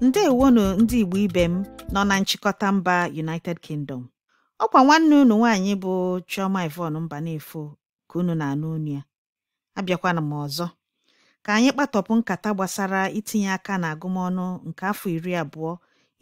ndewonu ndị Igbo ibe m nọ na nchịkọta mba United Kingdom ọkwa nwanne unu nwaanyị bụ Chioma Yvonne Mbanefo ka unu na-anụ unu ya abịakwana m ọzọ ka anyị kpatọpụ nkata gbasara itinye aka na agụmọnụ nke afọ iri abụọ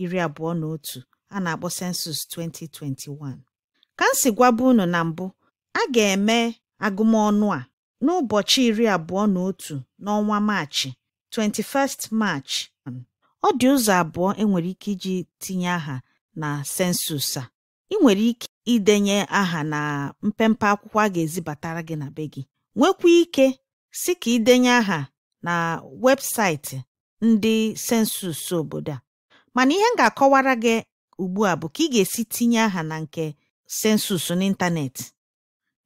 iri abụọ na otu a na-akpọ census 2021 ka m si gwabu unu na mbụ a ga-eme agụmọnụ a n'ụbọchị iri abụọ na otu n'ọnwa Maachị 21st March ọ dị ụzọ abụọ e nwere ike iji tinye aha na census a i nwere ike idenye aha na mpempe akwụkwọ a ga-ezibatara gị na be gị nwekwa ike si ka idenye aha na webụsaịtị ndị census obodo a mana ihe m ga-akọwara gị ugbu a bụ ka ị ga-esi tinye aha na nke census n'ịntanetị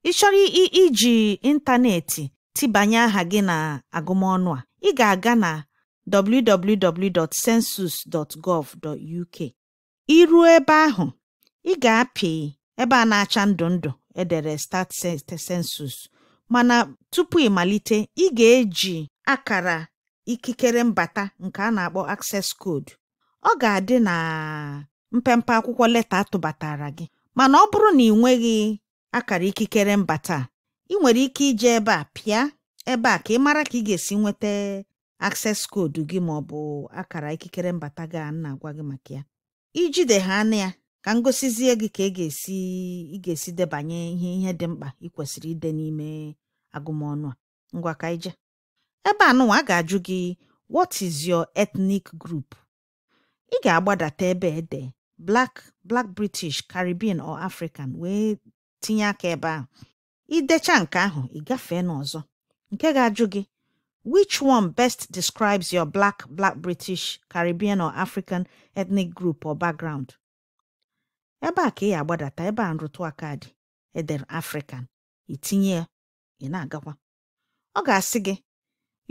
ị chọrọ iji ịntanetị tibanye aha gị na agụmọnụ a ị ga-aga na www.census.gov.uk i ruo ebe ahụ ị ga-apị ebe a na-acha ndụ ndụ e dere start census mana tupu ị malite ị ga-eji akara ikikere mbata nke a na-akpọ access code ọ ga-adị na mpempe akwụkwọ leta a tụbatara gị mana ọ bụrụ na i nweghị akara ikikere mbata i nwere ike ije ebe a pịa ebe a ka ị mara ka ị ga-esi nweta access code gị ma ọ bụ akara ikikere mbata gị a na-agwa gị maka ya i jide ha anụ ya ka m gosizie gị ka ị e ga-esi ị ga-esi debanye ihe ihe dị mkpa ị kwesịrị ide n'ime agụmọnụ a ngwa ka ije ebe anụnwa a ga-ajụ gị what is your ethnic group ị ga-agbadata ebe e de black black british caribbean or african wee tinye aka ebe ahụ i decha nke ahụ ị gafee n'ọzọ nke ga-ajụ gị which one best describes your black black british caribbean or african ethnic group or background ebe a ka ị ya-agbadata ebe a nrụtụ aka dị e dere african i tinye ya ị na-agakwa ọ ga-asị gị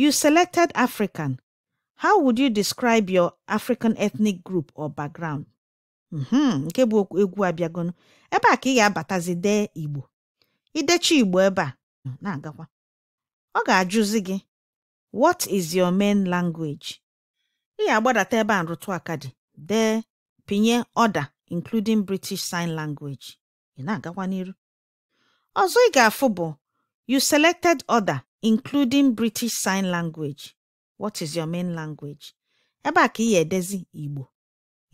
you selected african how would you describe your african ethnic group or background mhm, nke bụ egwu abịagonụ ebe a ka ị ga-abatazi dee igbo i decha igbo ebe a na-agakwa ọ ga-ajụzi gị what is your main language ị ga-agbadata ebe a nrụtụ aka dị dee pịnye other including British Sign Language ị na-agakwa n'iru ọzọ ị ga-afụ bụ you selected other including British Sign Language what is your main language ebe a ka ị ya-edezi Igbo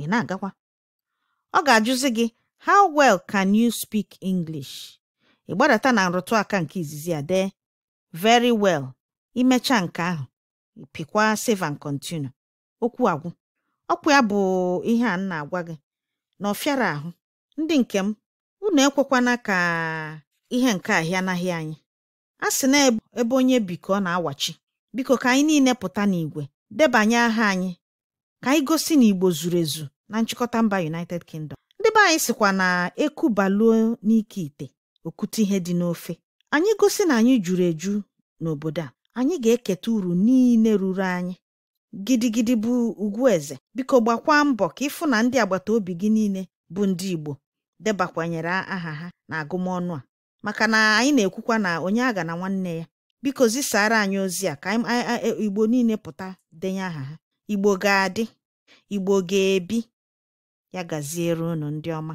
ị na-agakwa ọ ga-ajụzi gị how well can you speak English ị gbadata na nrụtụ aka nke izizi a dee very well i mecha nke ahụ pịkwa save and continue okwu agwụ ọkwa ya bụ ihe a na-agwa gị na ọ fịara ahụ ndị nke m unu ekwekwana ka ihe nke a hịanahị anyị a sị na ebe onye bi ka ọ na-awachi biko ka anyị niile pụta n'igwe debanye aha anyị ka anyị gosi na Igbo zuru ezu na nchịkọta mba United Kingdom ndị be anyị sịkwa na eku baluo n'ike ite o kute ihe dị n'ofe anyị gosi na anyị juru eju n'obodo a anyị ga-eketa uru niile ruru anyị gidigidi bụ ugwu eze biko gbakwaa mbọ ka ị fụ na ndị agbata obi gị niile bụ ndị Igbo debakwanyere aha ha na agụmọnụ a maka na anyị na-ekwukwa na onye aghana nwanne ya biko zisaara anyị ozi a ka Igbo niile pụta denye aha ha Igbo ga-adị Igbo ga-ebi ya gaziere unu ndị ọma